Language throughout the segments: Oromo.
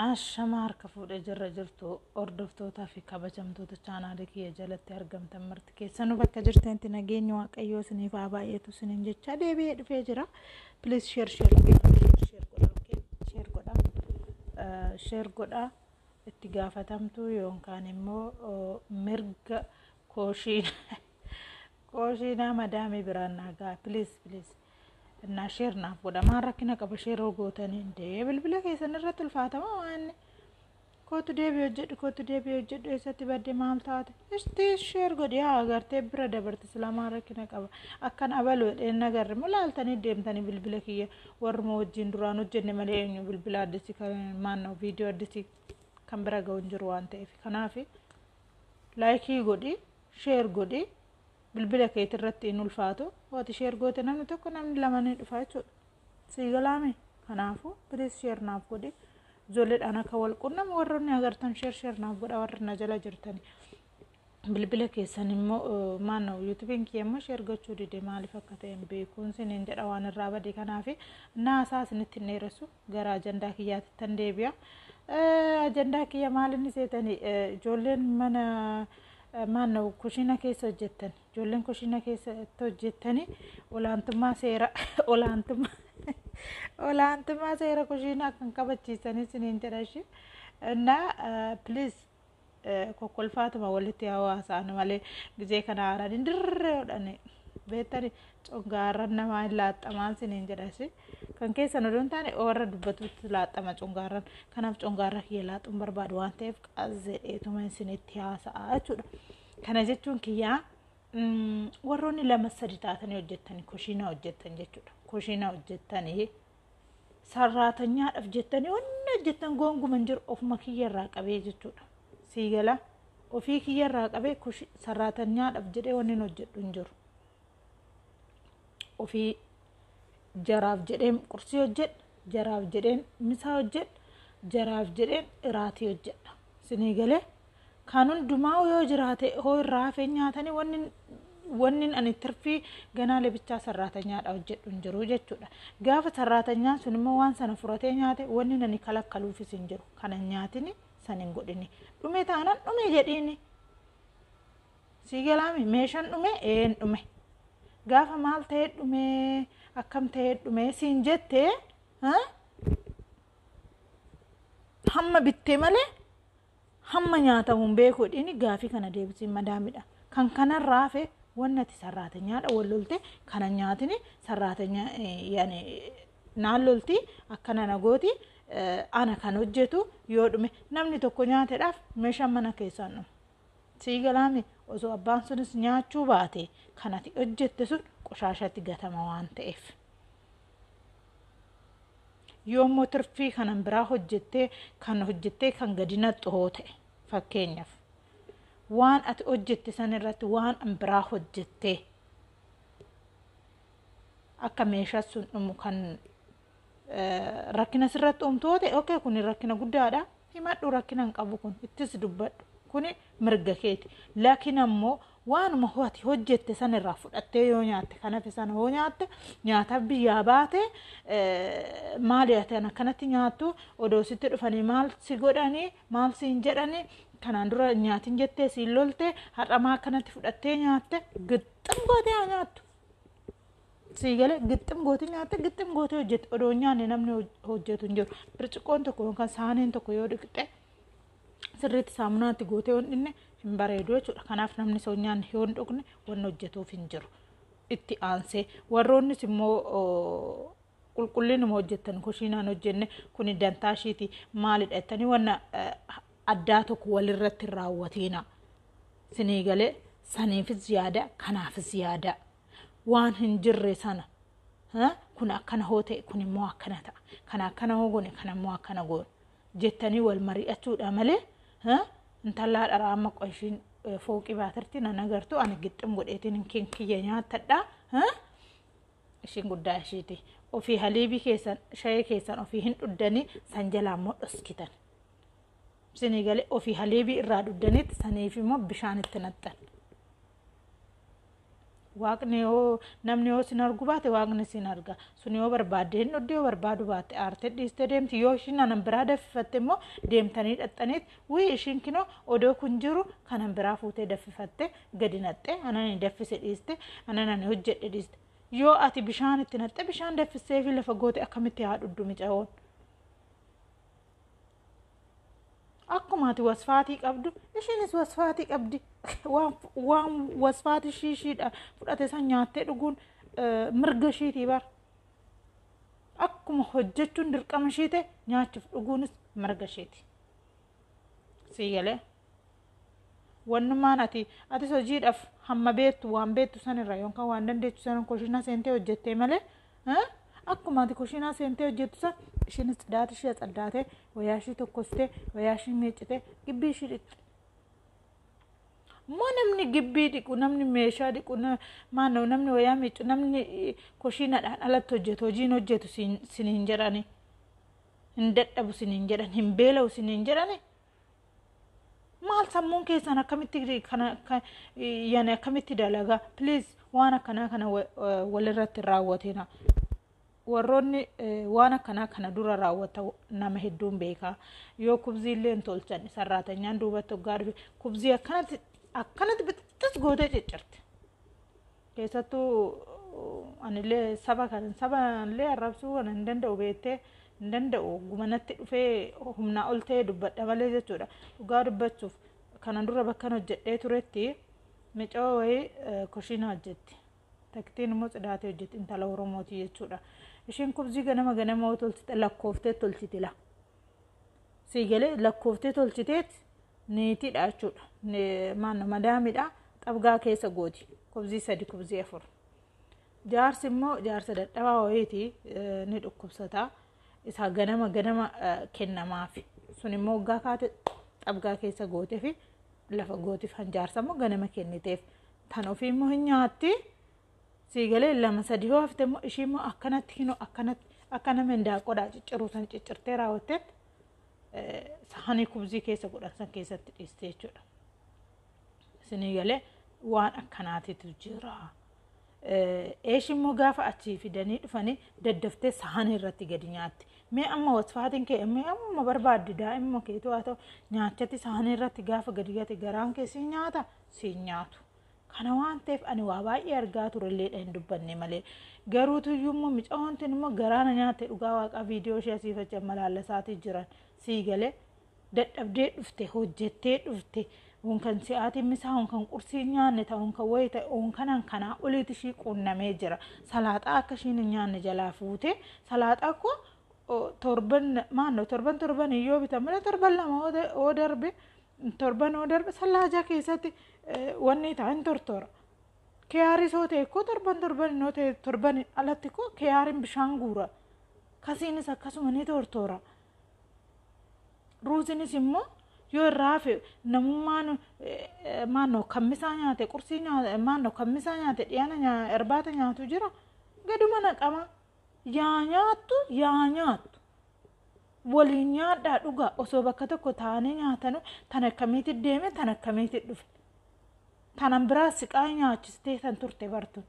Ashama harka fuudhee jirra jirtu hordoftootaa fi kabajamtoota chaanaalii kiyya jalatti argamtan marti keessanuu bakka jirtanitti nageenyi waaqayyoo isiniif haa baay'atu isiniin jechaa deebi'ee dhufee jira. Please share share share godha okay share godha Eh, share godha itti gaafatamtu yookaan immoo oh, mirga kooshiin kooshiinaa madaamii biraan naagaa please please. Innaa sheer naaf godha maan rakkina qaba sheer yoo gootanii dee bilbila keessan irratti ulfaatama waan kootu deebii hojjedhu kootu deebii hojjedhu eessatti badde maal taate istii sheer godhi haa agartee bira dabarte silamaa rakkina qaba akkan abalu jedheen nagarre moo laaltanii deemtanii bilbila kiyya warruma wajjin duraan hojjenne malee eenyu bilbila addisi kan maannoo viidiyoo addisi kan bira ga'u hin jiru waan ta'eef kanaaf laayikii godhi sheer godhi bilbila keetii irratti hin ulfaatu waati sheer goote namni tokko namni lama ni dhufa jechuudha sii galaame kanaafuu piliis sheer naaf godhi ijoolleedhaan akka wal qunnama warroonni agartan sheer sheer naaf godha warri na jala jirtani bilbila keessan immoo maannoo yuutubiin kiyya immoo sheer gochuu dide maaliif akka ta'e hin beekuun siniin jedha waan irraa bade kanaafi naasaa isinitti hin dheeressu gara ajandaa kiyyaatittan deebi'a. Eh, Ajandaa kiyya maal inni seetani Eh, ijoolleen mana eh, maanna kushiina keessa hojjettan ijoolleen kushiina keessatti hojjettani olaantummaa seera olaantummaa olaantummaa seera kushiinaa kan kabachiisan isiniin jedha ishee. Innaa please kokkolfaatuma walitti hawaasaan malee gizee kana haaranii dirree hodhanii beektani cungaarran namaa hin laaxxamaan siniin jedhasi kan keessan odoo hin taane warra dubbatutti laaxxama cungaarran kanaaf cungaarra kiyya laaxxuun barbaadu waan ta'eef qaazzeedheetuma isinitti haasa'a jechuudha kana jechuun kiyyaa warroonni lama sadi taatanii hojjettanii kushiina hojjettan jechuudha kushiina hojjettanii sarraatanyaadhaaf jettanii wanni hojjettan goonguma hin jiru ofuma kiyya irraa qabee jechuudha. Sii gala ofii kiyya irraa qabee kushi sarraatanyaadhaaf jedhee wanni hin hojjedhu hin jiru. Ofii jaraaf jedheen qursii hojjedha jaraaf jedheen misaa hojjedha jaraaf jedheen iraatii hojjedha. Sinii galee Kaan hundumaa'uu yoo jiraate hoo irraa hafeen nyaatanii wanni wannin ani tirfii ganaa lebichaa sarraatanyaadha hojjedhu hin jiru jechuudha. Gaafa sarraatanyaan sun immoo waan sana furatee nyaate wannin ani kalakkaluufis hin jiru. Kana hin nyaatini san hin godhini. Dhume taanan dhume jedhiini. Sii galaami meeshaan dhume ee hin dhume. Gaafa maal ta'ee dhume akkam ta'ee dhume siin jettee hamma bittee malee Hamma nyaatamu hin beeku jedhiini gaafii kana deebisiin madaamidha. Kan kanarraa hafe wanni ati sarraatenyaadha wal lolte kana nyaatini sarraatenya yani naan lolti akkana na gooti ana kan hojjetu yoo dhume namni tokko nyaatedhaaf meeshaan mana keessaan dhume. Sii galaami osoo abbaan sunis nyaachuu baate kan ati hojjette sun qoshaashatti gatama waan ta'eef. Yoo immoo tirfii kanan biraa hojjettee kan hojjettee kan gadi naqxu hoo ta'e fakkeenyaaf waan ati hojjette san irratti waan an biraa hojjettee akka meeshaa sun dhumu kan eh, rakkina sirratti uumtu hoo ta'e okay kun rakkina guddaadha himadhu rakkina hin qabu kun ittis dubbadhu kun mirga keeti laakiin ammoo Waanuma ati hojjette san irraa fudhattee yoo nyaatte kan hafe sana hoo nyaatte nyaataaf biyyaa baate maali ati an akkanatti nyaattu odoo sitti dhufanii maal si godhanii maal siin jedhanii kanaan dura nyaatin jettee siin lolte har'amaa akkanatti fudhattee nyaatte gixxim gootee haa nyaattu. Sii galee gixxim gootee nyaatte gixxim gootee hojjette odoo nyaanne namni hojjetu hin jiru. Birciqqoon tokko yookaan saaniin tokko yoo dhiqxe sirriitti saamunaatti gootee yoo hin dhiqne hin bareedu jechuudha. Kanaaf namni soonyaan yoo hin dhiqne wanni hojjetuuf hin jiru. Itti aansee warroonnis immoo qulqullinuma hojjettan kushiinaan hojjenne kuni dantaa ishiiti maalidha jettanii wanna addaa tokko walirratti hin raawwatiina. Sinii galee saniifis yaada kanaafis yaada waan hin jirre sana kun akkana hoo ta'e kun immoo akkana ta'a kan akkana hoo goone kan immoo akkana goone jettanii wal mari'achuudha malee intallaa dharaa amma qoy ishiin fooqii baatirti nan agartu ani gixxim godheetiin kin kiyya nyaatadha ishiin guddaa ishiiti ofii haliibii keessan shayee keessan ofii hin dhuddanii san jalaa immoo dhoskitan isinii galee ofii haliibii irraa dhuddaniitti saniif immoo bishaan itti naxxan Waaqni yoo namni yoo sin argu baate waaqni sin arga sun yoo barbaadde hin dhuddi yoo barbaadu baatte aarte dhiiste deemti yoo ishiin anan biraa daffifatte immoo deemtanii dhaxxaniit wii ishiin kinoo odoo kun jiru kanan biraa fuutee daffifatte gadi naxxe anani daffise dhiiste ananani hojjedhe dhiiste yoo ati bishaan itti naxxe bishaan daffisee fi lafa goote akkamitti haa dhuddu micawoon Akkuma ati wasfaatii qabdu ishiinis wasfaatii qabdi. Waan waan wasfaatii ishii ishiidha fudhate san nyaattee dhuguun eh, mirga ishiitii bar. Akkuma hojjechuun dirqama ishii ta'e nyaachuuf dhuguunis mirga ishiiti. Sii galee. Wannumaan ati atis hojiidhaaf hamma beektu waan beektu sanirra yookaan waan dandeettu sanan koshinaa seentee hojjettee malee eh, akkuma ati koshinaa seentee hojjettu san ishiinis tsidaata ishii atsaddaatee wayaa ishii tokkostee wayaa ishii miiccitee gibbii ishii dhiqxi. Immoo namni gibbii dhiqu namni meeshaa dhiqu na- maanoo namni wayaa miiccu namni eh, koshiinadhaan alatti hojjetu hojiin hojjetu siin siin hin jedhani hin dadhabu siin hin jedhan hin beela'u siin hin jedhani maal sammuun keessan akkamitti kana akka yani akkamitti dalagaa please waan akkanaa kana wa- eh, walirratti hin raawwatina warroonni eh, waan akkanaa kana dura raawwata nama hedduun beekaa yoo kubzii illee hin tolchan sarraatanyaan duubatti hoggaa dhufe kubzii akkanatti akkanatti bittis gootee ciccirti keessattuu anillee saba kan saba illee arrabsuu kan hin danda'u beettee hin danda'u guma natti dhufee humnaa ol ta'ee dubbadha malee jechuudha dhugaa dubbachuuf kana dura bakkan hojjedhee turetti micoo wayii kushiina hojjetti taktiin immoo tsidaatee hojjetti intala oromooti jechuudha ishiin kubzii ganama ganama tolchite lakkooftee tolchitila sii galee lakkooftee tolchiteet neetiidha jechuudha. Maanna madaamidha xabgaa keessa gooti kubzii sadi kubzii afur. Jaarsi immoo jaarsa dadhabaa wayiiti ni dhukkubsata isaa ganama ganama kennamaafi sun immoo waggaa kaate xabgaa keessa gooteefi lafa gootiif hanjaarsa immoo ganama kenniteef tan ofii immoo hin nyaatti. sii galee lama sadi yoo hafte immoo ishii immoo akkanatti kinoo akkanatti akka nama hindaaqodhaa cicciruu san ciccirtee raawwatteetti saanii kubzii keessa godhan san keessatti dhiiste jechuudha. Isinii galee waan akkanaatitu jira. Eesh immoo gaafa achii fidanii dhufanii daddaftee saanii irratti gadi nyaatti. Mee amma wasfaatiin kee mee amma barbaadde daa'imma keetu haa ta'u nyaachatti saanii irratti gaafa gadi gate garaan kee sii nyaata sii nyaatu. Kana waan ta'eef ani waa baay'ee argaa turelleedha hin dubbanne malee. Garuu tuyyuu immoo micaa'oon tun immoo garaa na nyaatte dhugaa waaqaa viidiyoo ishee asiif achi amma laallasaatii jiran sii galee dadhabdee dhufte hojjettee dhufte unkan si'aatiin misaa unkan qursii nyaanne ta'a unkan wayii ta'e unkanan kanaa oliiti ishii quunnamee jira salaaxaa akka ishiin hin nyaanne jalaa fuute salaaxaa koo torban maannoo torban torban yoo bitamne torban lama yoo darbe Torban oo darbe sallaajaa keessatti wanni ta'a hin tortora. Kiyaarii soo ta'e koo torban torban innoo ta'e torban alatti koo kiyaariin bishaan guura. Kasiinis akkasuma ni tortora. Ruuzinis immoo yoo irraa hafe namummaan maannoo kammisaa nyaate qursii nyaate maannoo kammisaa nyaate dhiyaana irbaata nyaatu jira gaduma naqama yaa nyaattu yaa nyaattu Waliin nyaadhaa dhugaa osoo bakka tokko taa'anii nyaatanu tan akkamiitti deeme tan akkamiitti dhufe. Tanan biraa siqaa nyaachistee tan turte bartuun.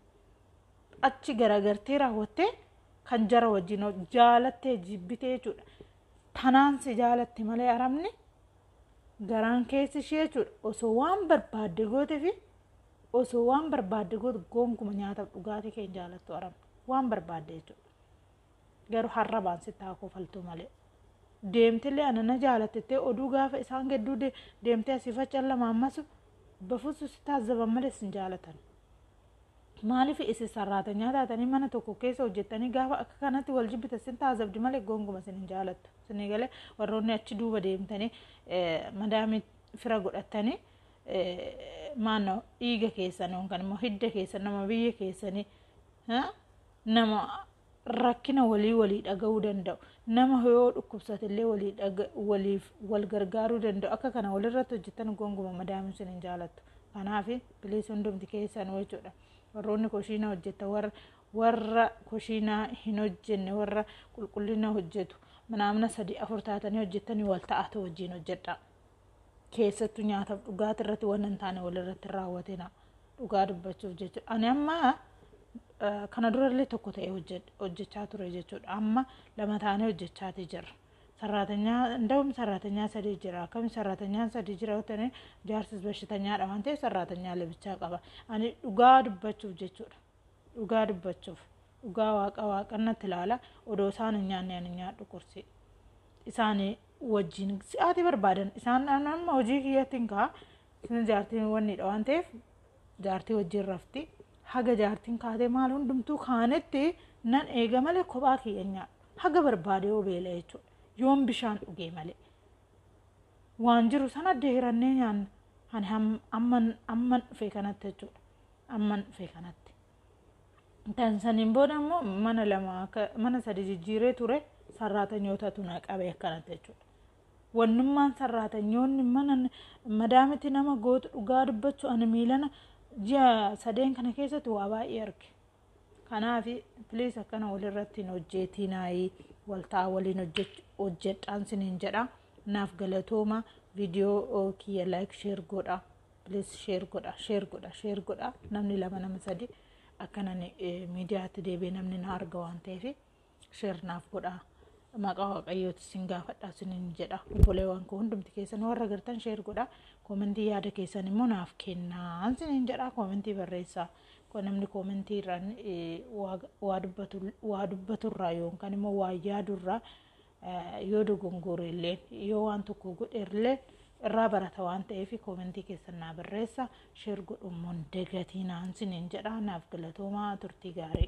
Achi garagartee raawwattee kan jara wajjin hoj- jaalattee jibbitee jechuudha. Tanaan si jaalatte malee arabni garaan keessi ishee jechuudha. Osoo waan barbaadde goote fi osoo waan barbaadde goote goonkuma nyaataaf dhugaatii kee hin jaalattu arabni. Waan barbaadde jechuudha. Garuu harrabaan sitti haa kofaltuu malee. Deemtillee ana na jaalattettee oduu gaafa isaan gedduu de- deemtee asii faccan lama ammasu bafusu si taazzaban malee sin jaalatan. Maaliif isin sarraatanyaa taatanii mana tokko keessa hojjettanii gaafa akka kanatti wal jibbita sin taazabdi malee gonguma sin hin jaalattu. Sinii galee warroonni achi duuba deemtanii eh, madaamii fira godhattanii eh, maannoo dhiiga keessan yookaan immoo hidda keessan nama biyya keessanii. ha? nama rakkina walii walii dhaga'uu danda'u nama yoo dhukkubsate illee walii dhaga- waliif wal gargaaruu danda'u akka kana walirratti hojjetan gonguma madaamin sin hin jaalattu kanaaf bilis hundumti keessanuu jechuudha warroonni koshiina hojjetta warra warra koshiinaa hin hojjenne warra qulqullina hojjetu manaamna sadii afur taatanii hojjettanii wal ta'aatu wajjin hojjedhaa keessattu nyaataaf dhugaati irratti waan hin taane walirratti raawwatina dhugaa dubbachuuf jechuudha. Ani amma kana durallee tokko ta'ee hojjechaa ture jechuudha. Amma lama taanee hojjechaatii jirra. Sarraatanyaa ndawum sarraatanyaa sadii jira. Akkami sarraatanyaan sadii jira ta'e jaarsis bashitanyaadha waan ta'eef sarraatanyaa labichaa qaba. Ani dhugaa dubbachuuf jechuudha. Dhugaa dubbachuuf. Dhugaa waaqa waaqannatti ilaala. Odoo isaan hin nyaanne ani nyaadhu qursii. Isaan wajjin si'aatii barbaadan isaan amma hojii kiyyattiin kaa isin jaartiin wanniidha waan ta'eef jaartii wajjin rafti haga jaartiin kaatee maal hundumtuu kaanetti nan eega malee kophaa kiyya nyaadha haga barbaade yoo beela jechuudha yoon bishaan dhugee malee waan jiru sana deerannee nyaanna ani amman amman dhufee kanatti jechuudha amman dhufee kanatti. Kan saniin booda immoo mana lama akka mana sadi jijjiiree ture sarraatanyootatu na qabe akkanatti jechuudha. Wannummaan sarraatanyoonni mana madaamiti nama gootu dhugaa dubbachuu ani miilana ji'a sadeen kana keessatti waa baay'ee arge. Kanaaf piliis akkana walirratti hin hojjeetii naayii waltaa waliin hojjedhaan siniin jedha. Naaf galatooma viidiyoo kiyya laayik sheer godha. please share godha share godha share godha namni lama nama sadi akkanan miidiyaatti deebi'ee namni na arga waan ta'eef share naaf godha maqaa waaqayyooti sin gaafadha sinin jedha obboleewwan koo hundumti keessan warra gartan share godha koomentii yaada keessan immoo naaf kennaa sinin jedha koomentii barreessaa Ko- namni koomentii irraan eh, waa- waa dubbatu- waa dubbaturraa yookaan immoo waa yaadurraa yoo dogongoore illee yoo waan tokko godhe illee irraa barata waan ta'eef koomentii keessan naa barreessa sheer godhummoon dagatii naan siniin jedha naaf galatoomaa turtii gaarii.